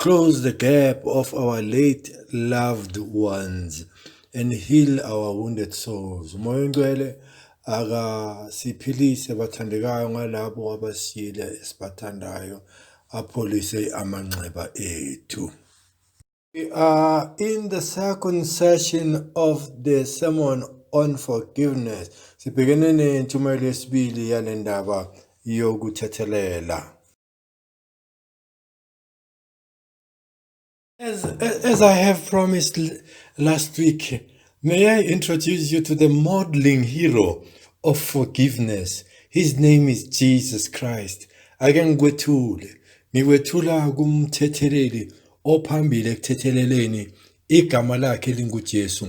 Close the gap of our late loved ones and heal our wounded souls. Umoya ongcwele akasiphilise bathandekayo ngalabo abasiyile esibathandayo apholise amanxeba ethu. We are in the second session of the sermon on forgiveness. Sibhekene nentshumayelo yesibili yale ndaba yokuthethelela. As, as I have promised last week, may I introduce you to the modeling hero of forgiveness. His name is Jesus Christ. Ake ngikwethule. Ngikwethula kumthetheleli ophambili ekuthetheleleni igama lakhe linguJesu.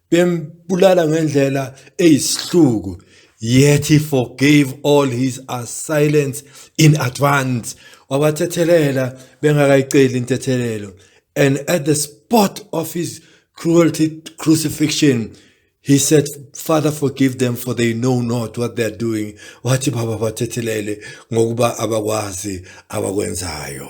bembulala ngendlela eyisihluku yet he forgave all his assailants in advance wabathethelela bengakayiceli intethelelo and at the spot of his cruelty crucifixion He said, Father, forgive them for they know not what they are doing. Wathi baba bathethelele ngokuba abakwazi abakwenzayo.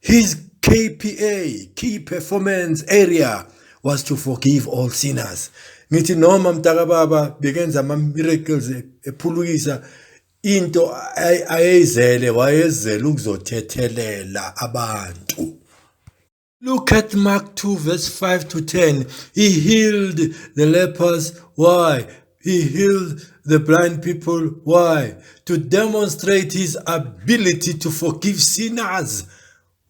His KPA, Key Performance Area, was to forgive all sinners. Ngithi noma mntakababa bekenza ama-miracles ephulukisa into ayeyizele wayezele ukuzothethelela abantu. Look at Mark 2 verse 5 to 10. He healed the lepers. Why? He healed the blind people. Why? To demonstrate his ability to forgive sinners.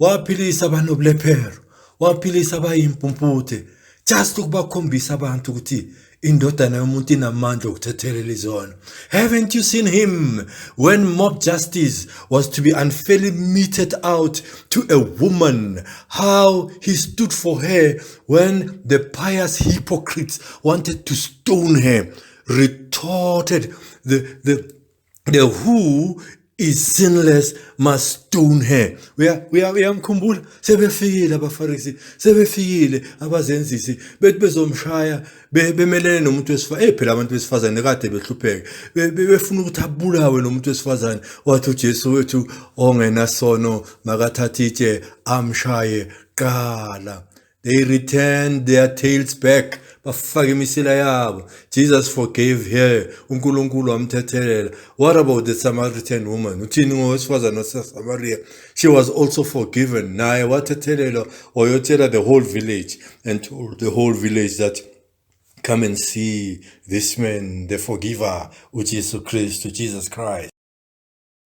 Waphilisa abanobulephero, waphilisa abayimpumputhe. Just ukubakhombisa abantu ukuthi indodana yomuntu inamandla okuthethelela izono. Haven't you seen him when mob justice was to be unfairly meted out to a woman? How he stood for her When the pious hypocrites wanted to stone her, retorted the, the, the who is sinless must stone her uyamkhumbula sebefikile abafarisi sebefikile abazenzisi bethi bezomshaya bemelene nomuntu wesifazane eh phela abantu besifazane kade behlupheke befuna ukuthi abulawe nomuntu wesifazane wathi uJesu wethu ongenasono makathathe itshe amshaye Qala. They returned their tails back. Bafake imisila yabo. Jesus forgave her. UNkulunkulu wamthethelela. What about the Samaritan woman? Uthini ngowesifazane waseSamaria? She was also forgiven. Naye wathethelelwa wayotshela the whole village and told the whole village that Come and see this man, the forgiver, which is Christ, Jesus Christ.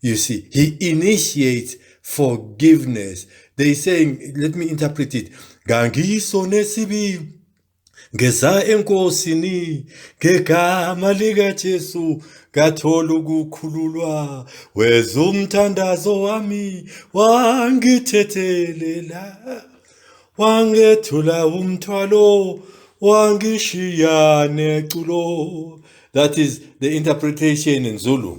You see, he initiates forgiveness. They saying, let me interpret it. Ngangiso nesibi ngeza enkosini ngegama lika Jesu ngathola ukukhululwa weza umthandazo wami wangithethelela wangethula umthwalo wangishiya neculo that is the interpretation in Zulu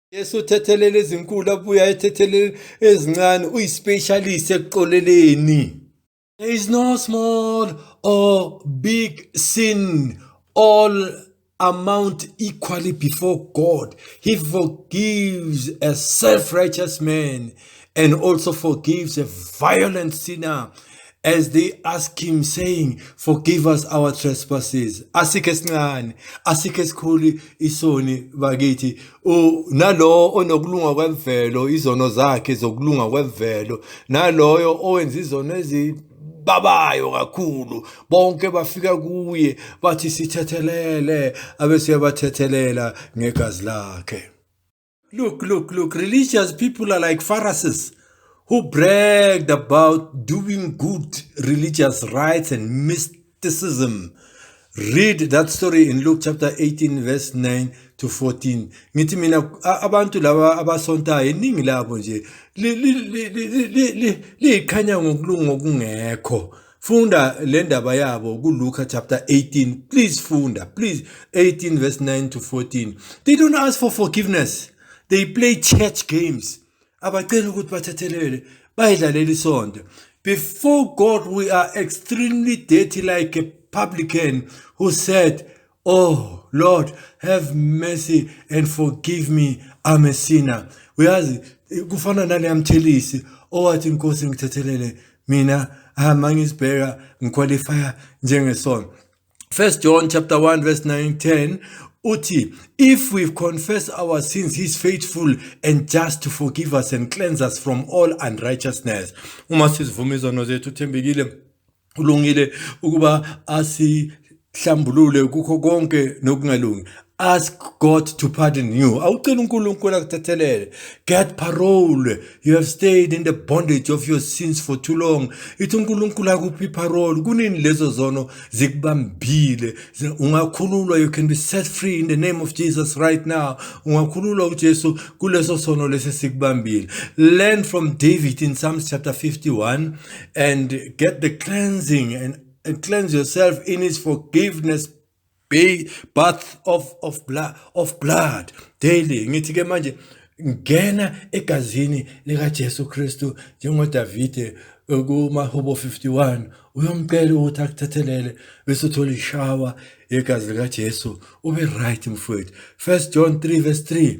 Yesu uthethelela ezinkulu abuya ethethelela ezincane uyispecialist ekuxoleleni There is no small or big sin all amount equally before God he forgives a self-righteous man and also forgives a violent sinner as they ask him saying forgive us our trespasses asikho esincane asikho esikhulu isoni bakithi nalowo onokulunga kwemvelo izono zakhe zokulunga kwemvelo naloyo owenza izono ezi babayo kakhulu bonke bafika kuye bathi sithethelele abeseyabathethelela ngegazi lakhe Look, look, look, religious people are like Pharisees who bragged about doing good religious rites and mysticism. Read that story in Luke chapter 18 verse 9 to 14. Ngithi mina abantu laba abasontayo iningi labo nje liyiqhanya ngokulunga okungekho. Funda le ndaba yabo kuLuka chapter 18. Please funda. Please 18 verse 9 to 14. They don't ask for forgiveness. They play church games. Abacela ukuthi bathethelele. Bayidlalela isonto. Before God we are extremely dirty like a publican who said oh lord have mercy and forgive me i'm a sinner uyazi kufana naleyamthelisi owathi inkosi ngithethelele mina hama ngisibheka ngiqualifya njengesono 1 john chapter 1 verse 9 10 uthi if we confess our sins he's faithful and just to forgive us and cleanse us from all unrighteousness uma sizivuma izono zethu uthembekile ulungile ukuba asihlambulule kukho konke nokungalungi ask god to pardon you awucela unkulunkulu akuthethelele get parole you have stayed in the bondage of your sins for too long ithi unkulunkulu akuphi parole kunini lezo zono zikubambile ungakhululwa you can be set free in the name of jesus right now ungakhululwa ujesu kuleso sono lesi sikubambile learn from david in psalms chapter 51 and get the cleansing and, and cleanse yourself in his forgiveness bath of of blood of blood daily ngithi ke manje ngena egazini lika Jesu Kristu njengoDavide kumahubo 51 uyomcela ukuthi akuthethelele bese uthola ishawa yegazi lika Jesu ube right mfowethu 1 John 3 verse 3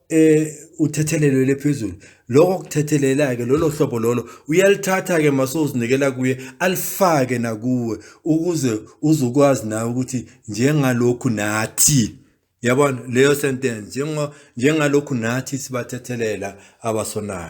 eh uthethelelo lephezulu lokho kuthethelela ke lolo hlobo lolo uyalithatha ke masozinikela kuye alifake nakuwe ukuze uzokwazi nawe ukuthi njengalokhu nathi yabona leyo sentence njengalokhu nathi sibathethelela abasonayo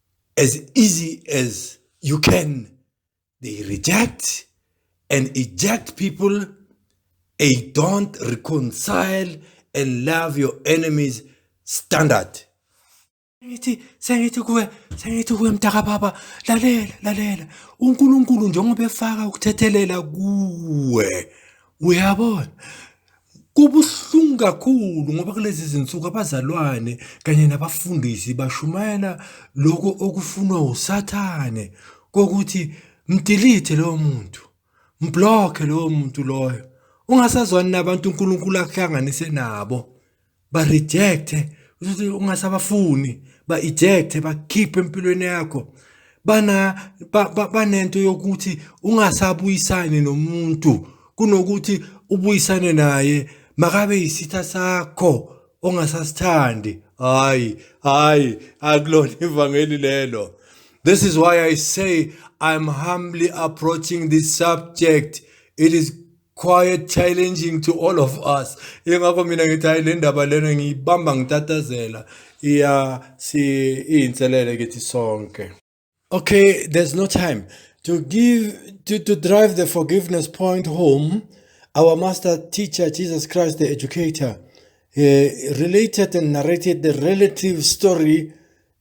as easy as you can they reject and eject people they don't reconcile and love your enemies standard ngithi sengithi kuwe sengithi kuwe mntaka baba lalela lalela uNkulunkulu njengoba efaka ukuthethelela kuwe uyabona Kubuhlungu kakhulu ngoba kulezi zinsuku abazalwane kanye nabafundisi bashumayela lokho okufunwa usathane kokuthi mdilithe lowo muntu, mblokhe lowo muntu loyo, ungasazwani nabantu uNkulunkulu akuhlanganise nabo. ba-rejecte uzothi ungasabafuni ba-ejecte bakhiphe empilweni yakho bana banento yokuthi ungasabuyisani nomuntu kunokuthi ubuyisane naye makabe yisitha sakho ongasasithandi hayi hayi akulona ivangeli lelo this is why i say i'm humbly approaching this subject it is quiet challenging to all of us ingakho mina ngithi hayi le ndaba lena ngiyibamba ngitatazela iya si iyinselele kithi sonke okay there's no time to give to, to drive the forgiveness point home our master teacher jesus christ the educator uh, related and narrated the relative story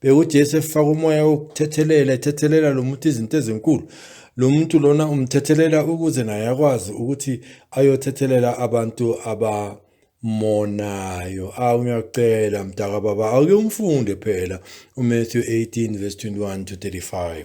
Bheka uJesu efaka umoya wokuthethelela ethethelela lo muntu izinto ezinkulu. Lo muntu lona umthethelela ukuze naye akwazi ukuthi ayothethelela abantu abamonayo. Awu ngiyakucela mdaka baba awuke umfunde phela uMatthew 18 verse 21 to 35.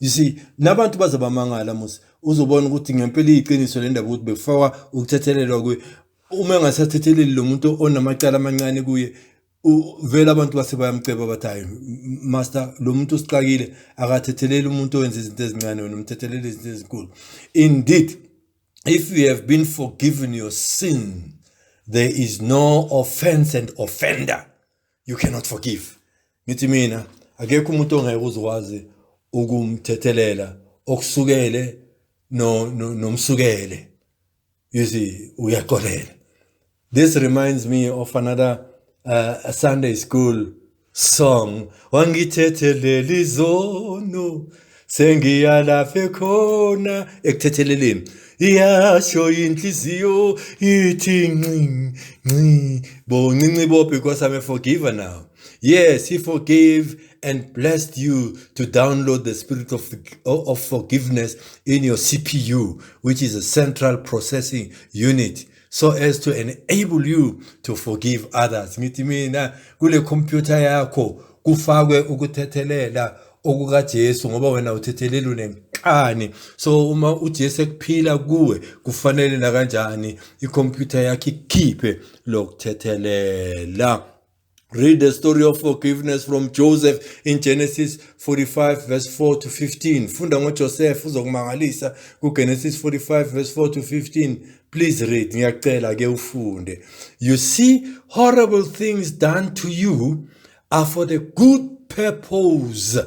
you see nabantu baze bamangala musa uzobona ukuthi ngempela iyiqiniso le ndaba ukuthi bekufakwa ukuthethelelwa kuye uma engasathetheleli lo muntu onamacala amancane kuye vele abantu base bayamceba bathi hayi master lo muntu usixakile akathetheleli umuntu owenza izinto ezincane wena umthethelele izinto ezinkulu indeed if you have been forgiven your sin there is no offense and offender you cannot forgive ngithi mina akekho umuntu ongeke uzokwazi ukumthethelela okusukele no nomsukele you see uyaxolela this reminds me of another uh, a sunday school song wangithetheleli zono sengiyalafe khona ekuthetheleleni iyasho inhliziyo ithi nci nci boncinci bo because i'm a forgiver now yes he forgave and blessed you to download the spirit of, of forgiveness in your cpu which is a central processing unit so as to enable you to forgive others ngithi mina kule computer yakho kufakwe ukuthethelela okukaJesu ngoba wena uthethelele unenkani so uma uJesu ekuphila kuwe kufanele nakanjani ikhompyutha yakhe ikhiphe lokuthethelela Read the story of forgiveness from Joseph in Genesis 45 verse 4 to 15. Funda ngoJoseph uzokumangalisa kuGenesis 45 verse 4 to 15. Please read. Ngiyacela ke ufunde. You see horrible things done to you are for the good purpose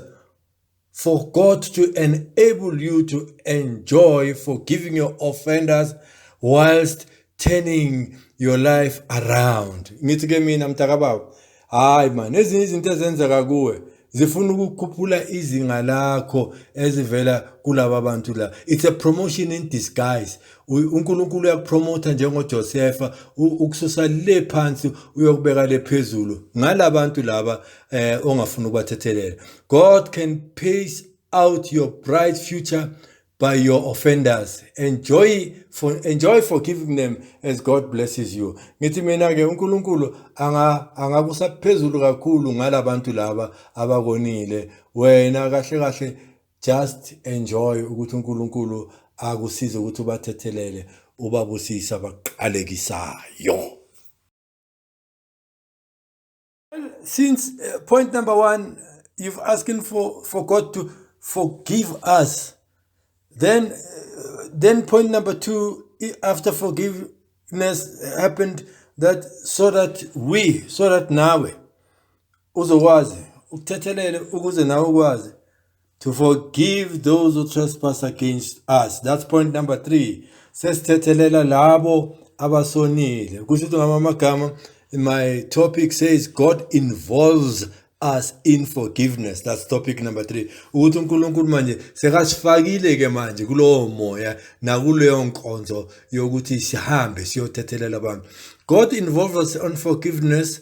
for God to enable you to enjoy forgiving your offenders whilst turning your life around ngithi ke mina mntakababa hayi man ezinye izinto ezenzeka kuwe zifuna ukukhuphula izinga lakho ezivela kulaba bantu la it's a promotion in disguise uNkulunkulu uyakupromotha njengoJosefa ukususa le phansi uyokubeka le phezulu ngalabantu laba eh ongafuna ukubathethelela God can pace out your bright future by your offenders enjoy for enjoy forgiving them as God blesses you ngithi mina ke uNkulunkulu anga angakusa phezulu kakhulu ngalabantu laba abakonile wena kahle kahle Just enjoy ukuthi uNkulunkulu akusize ukuthi ubathethelele ubabusisa bakuqalekisayo. Since uh, point number 1 you've asking for for God to forgive us. Then uh, then point number 2 after forgiveness happened that so that we so that nawe uzokwazi ukuthethelele ukuze nawe ukwazi to forgive those who trespass against us that's point number 3 sesithethelela labo abasonile kusho ukuthi ngama amagama my topic says god involves us in forgiveness that's topic number 3 ukuthi uNkulunkulu manje sekasifakile ke manje kulowo moya nakuleyo nkonzo yokuthi sihambe siyothethelela abantu God involves us on forgiveness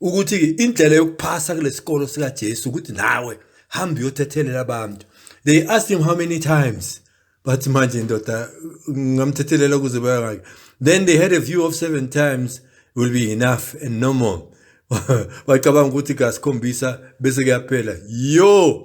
ukuthi indlela yokuphasa kulesikolo sika Jesu ukuthi nawe hamba uyothethelela abantu they asked him how many times but manje ndoda ngamthethelela ukuze bayangake then they had a view of seven times will be enough and no more bacabanga ukuthi kasikhombisa bese kuyaphela yo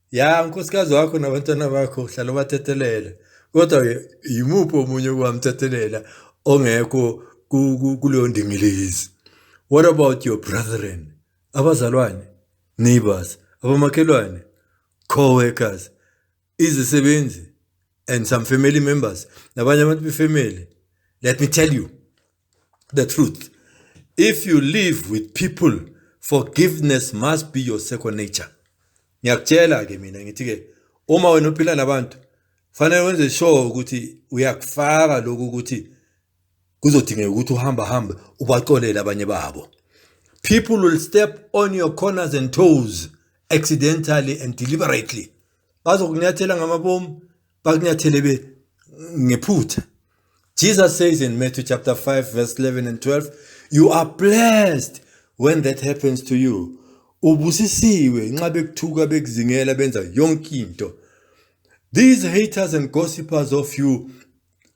Ya unkosikazi wakho nabantwana bakho uhlala ubathethelela. Kodwa-ke yimuphi omunye ukuwamthethelela ongekho kuleyo ndingilizi? What about your brethren? Abazalwane, neighbors, abamakhelwane, co-workers, izisebenzi and some family members nabanye abantu befamily. Let me tell you, the truth. If you live with people, forgiveness must be your second nature. Ngiyakutshela ke mina ngithi ke uma wena uphila nabantu fanele wenze sure ukuthi uyakufaka lokhu ukuthi kuzodingeka ukuthi uhamba hambe ubaxolele abanye babo. People will step on your corners and toes accidentally and deliberately. Bazokunyathela ngamabomu bakunyathele be ngephutha Jesus says in Matthew chapter 5 verse 11 and 12 you are blessed when that happens to you ubusisiwe nxa bekuthuka bekuzingela benza yonke into these haters and gossipers of you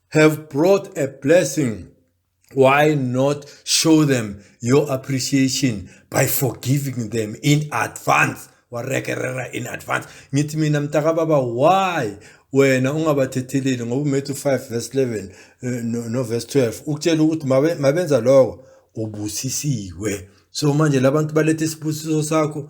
have brought a blessing why not show them your appreciation by forgiving them in advance warekerera in advance ngithi mina mntakababa why wena ungabathetheleli ngoba umethu 5 verse 11 eh, no, no verse 12 ukutshela ukuthi mabenza lokho ubusisiwe so manje labantu balethe isibusiso sakho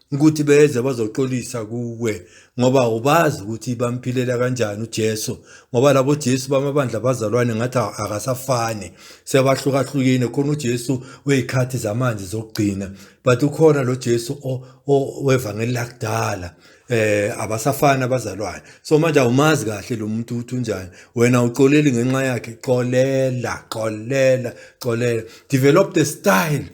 ukuthi beze bazoxolisa kuwe ngoba ubazi ukuthi bamphilela kanjani uJesu ngoba labo Jesu bamabandla bazalwane ngathi akasafani sebahlukahlukene khona uJesu wezikhathi zamanje zokugcina but ukhona lo Jesu owevangeli lakudala eh abasafana abazalwane so manje awumazi kahle lo muntu uthi unjani wena uxoleli ngenxa yakhe xolela xolela xolela develop the style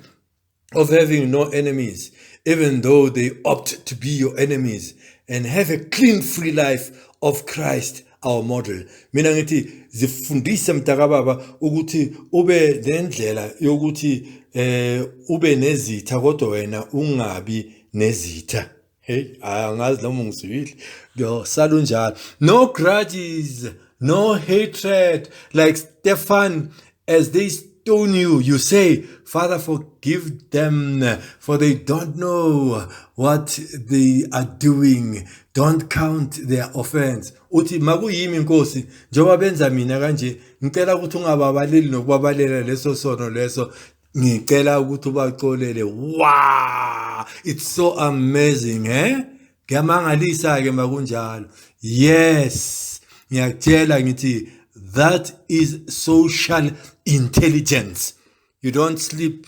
of having no enemies, even though they opt to be your enemies, and have a clean, free life of Christ our model mina ngithi zifundise mntakababa ukuthi ube nendlela yokuthi eh ube nezitha kodwa wena ungabi nezitha Hey, hayi angazi noma ungizwile. Ngiyosala unjalo. No grudges, no hatred like Stefan as they stone you. You say, Father, forgive them, for they don't know what they are doing. Don't count their offense. Uthi makuyimi inkosi njengoba benza mina kanje ngicela ukuthi ungababaleli nokubabalela leso sono leso Ngicela ukuthi ubaxolele. Wow! It's so amazing, eh? Ngiyamangalisa ke makunjalo. Yes. Ngiyakutshela ngithi that is social intelligence. You don't sleep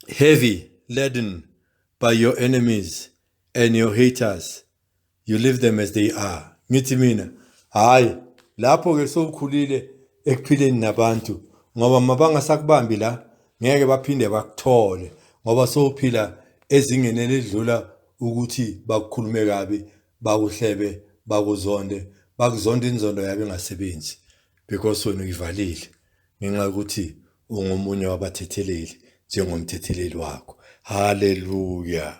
heavy laden by your enemies and your haters. you leave them as they are ngithi mina hhayi lapho-ke sowukhulile ekuphileni nabantu ngoba mabangasakubambi la ngeke baphinde bakuthole ngoba sowuphila ezingeni elidlula ukuthi bakukhulume kabi bakuhlebe bakuzonde bakuzonda inzondo yabo engasebenzi because wena uyivalile ngenxa yokuthi ungomunye wabathetheleli njengomthetheleli wakho haleluya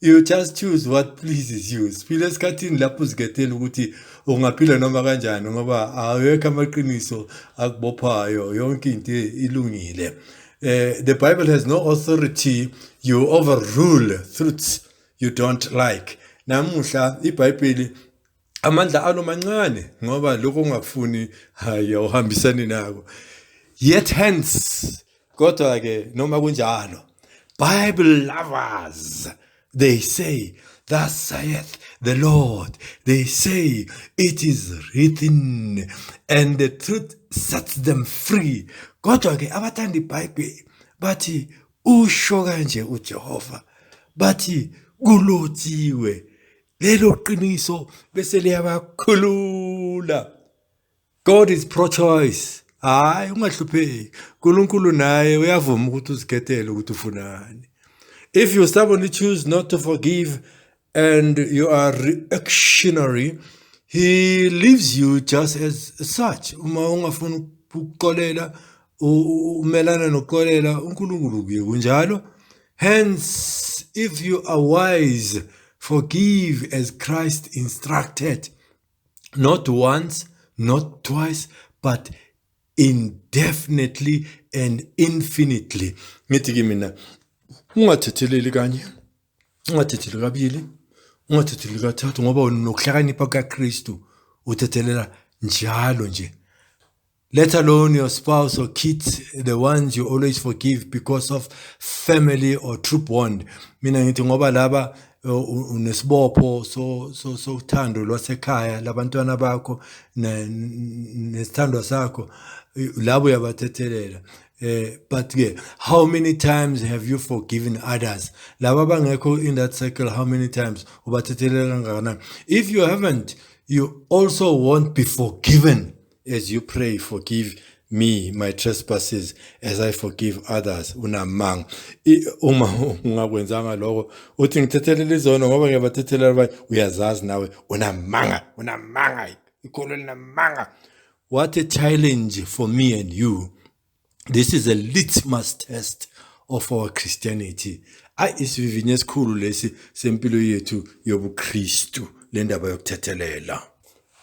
You just choose what pleases you. Siphile esikhathini lapho uzikethela ukuthi ungaphila noma kanjani ngoba awekho amaqiniso akubophayo yonke into ilungile. Uh, the Bible has no authority you overrule truths you don't like. Namuhla iBhayibheli amandla alo mancane ngoba lokho ungakufuni hayi awuhambisani nako yet hence kodwa ke noma kunjalo bible lovers they say thus saith the lord they say it is written and the truth sets them free kodwa ke abathanda ibhayibheli bathi usho kanje ujehova bathi kulotshiwe lelo qiniso bese liyabakhulula god is pro choice hayi ungahlupheki unkulunkulu naye uyavuma ukuthi uzikhethele ukuthi ufunani if you stubbornly choose not to forgive and you are reactionary he leaves you just as such uma ungafuni ukuxolela umelana nokuxolela uNkulunkulu kuye kunjalo hence if you are wise forgive as Christ instructed not once not twice but indefinitely and infinitely ngithi ke mina ungathetheleli kanye ungathetheleli kabili ungathetheleli kathathu ngoba wena unokuhlakanipha kukaKristu uthethelela njalo nje let alone your spouse or kids the ones you always forgive because of family or true bond mina ngithi ngoba laba uh, unesibopho so so so uthando lwasekhaya labantwana bakho nesithandwa sakho labo uyabathethelela eh but ke how many times have you forgiven others laba bangekho in that circle how many times ubathethelela kangakanani if you haven't you also won't be forgiven As you pray forgive me my trespasses as i forgive others unamanga uma ungakwenzanga lokho uthi ngithethelela izono ngoba ngiyabathethelela abanye uyazazi nawe unamanga unamanga ikholo linamanga what a challenge for me and you this is a litmus test of our christianity ayi isivivinyo esikhulu lesi sempilo yethu yobuKristu le ndaba yokuthethelela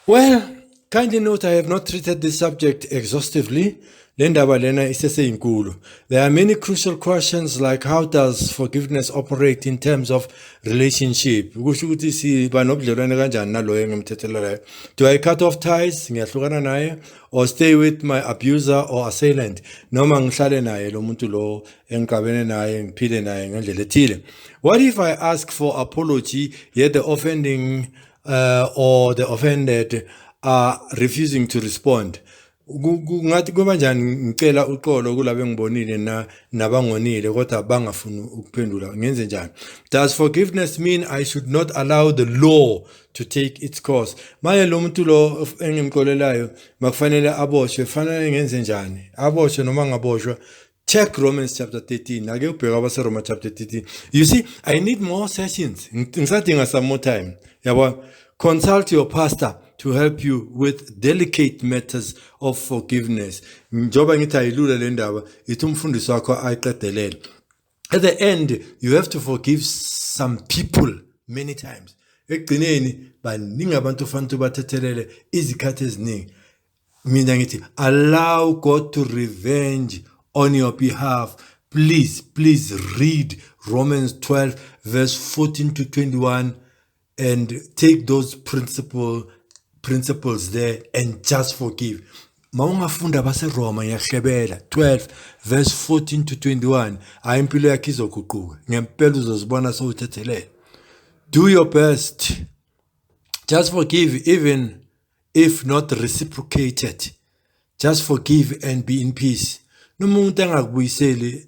well kindly note i have not treated this subject exhaustively le ndaba lena iseseyinkulu there are many crucial questions like how does forgiveness operate in terms of relationship kusho ukuthi siba nobudlelwane kanjani naloyo engemthethelelayo do i cut off ties ngiyahlukana naye or stay with my abuser or assailant noma ngihlale naye lo muntu lo engiqabene naye ngiphile naye ngendlela ethile what if i ask for apology yet the offending uh, or the offended are refusing to respond kungathi kuba njani ngicela uxolo kulabo engibonile na nabangonile kodwa bangafuni ukuphendula ngenze njani does forgiveness mean i should not allow the law to take its course manje lo muntu lo engimqolelayo makufanele aboshwe fanele ngenze njani aboshwe noma ngaboshwa check romans chapter 13 ake ubheka abaseroma chapter 13 you see i need more sessions ngisadinga some more time yabo consult your pastor to help you with delicate matters of forgiveness njengoba ngithi ayilula le ndaba ithi umfundisi wakho ayiqedelele at the end you have to forgive some people many times ekugcineni baningi abantu ofanele ubathethelele izikhathi eziningi mina ngithi allow god to revenge on your behalf please please read romans 12 verse 14 to 21 and take those principle principles there and just forgive mawungafunda baseroma ngiyahlebela 12 verse 14 to 21 hayi impilo yakhe izoguquka ngempela uzozibona sowuthethelela do your best just forgive even if not reciprocated just forgive and be in peace noma umuntu angakubuyiseli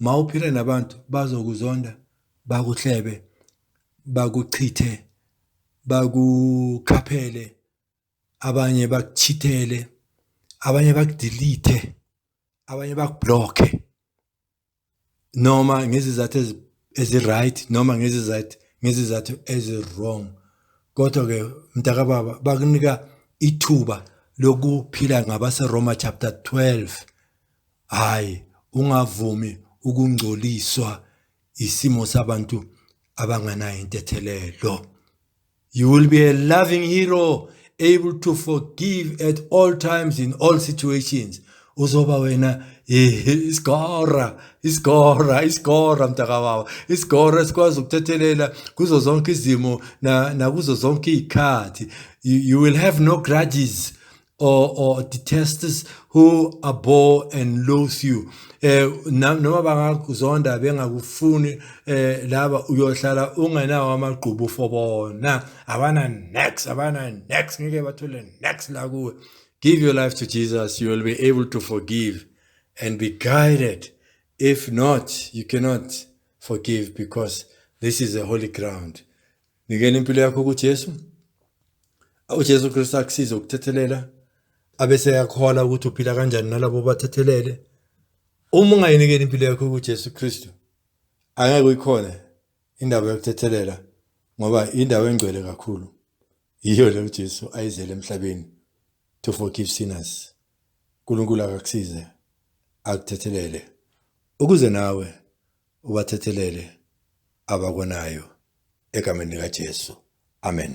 Mawuphila nabantu bazokuzonda bakuhlebe bakuchithe bakukhaphele abanye bakuchithele abanye bakudelete abanye bakublocke noma ngezizathu eziright noma ngezizathu ngezizathu ezirong kodwa ke mntaka baba bakunika ithuba lokuphila ngabase Roma chapter 12 Hhayi, ungavumi ukungcoliswa isimo sabantu abanganayo intethelelo. You will be a loving hero able to forgive at all times in all situations. Uzoba wena isigora isigora isigora mntakababa isigora esikwazi ukuthethelela kuzo zonke izimo nakuzo zonke iy'khathi you will have no grudges or, or detests who abhor and loathe you eh noma bangakuzonda bengakufuni eh laba uyohlala ungenawo amagqubu for bona abana next abana next ngeke bathole next la kuwe give your life to Jesus you will be able to forgive and be guided if not you cannot forgive because this is a holy ground Nikela impilo yakho kuJesu. UJesu Kristu akusize ukuthethelela abese yakhola ukuthi uphila kanjani nalabo bathethelele. Uma ungayinikeli impilo yakho kuJesu Kristu angeke uyikhona indaba yokuthethelela ngoba indawo engcwele kakhulu. Yiyo le uJesu ayizele emhlabeni to forgive sinners. uNkulunkulu akakusize akuthethelele ukuze nawe ubathethelele abakonayo egameni likaJesu. Amen.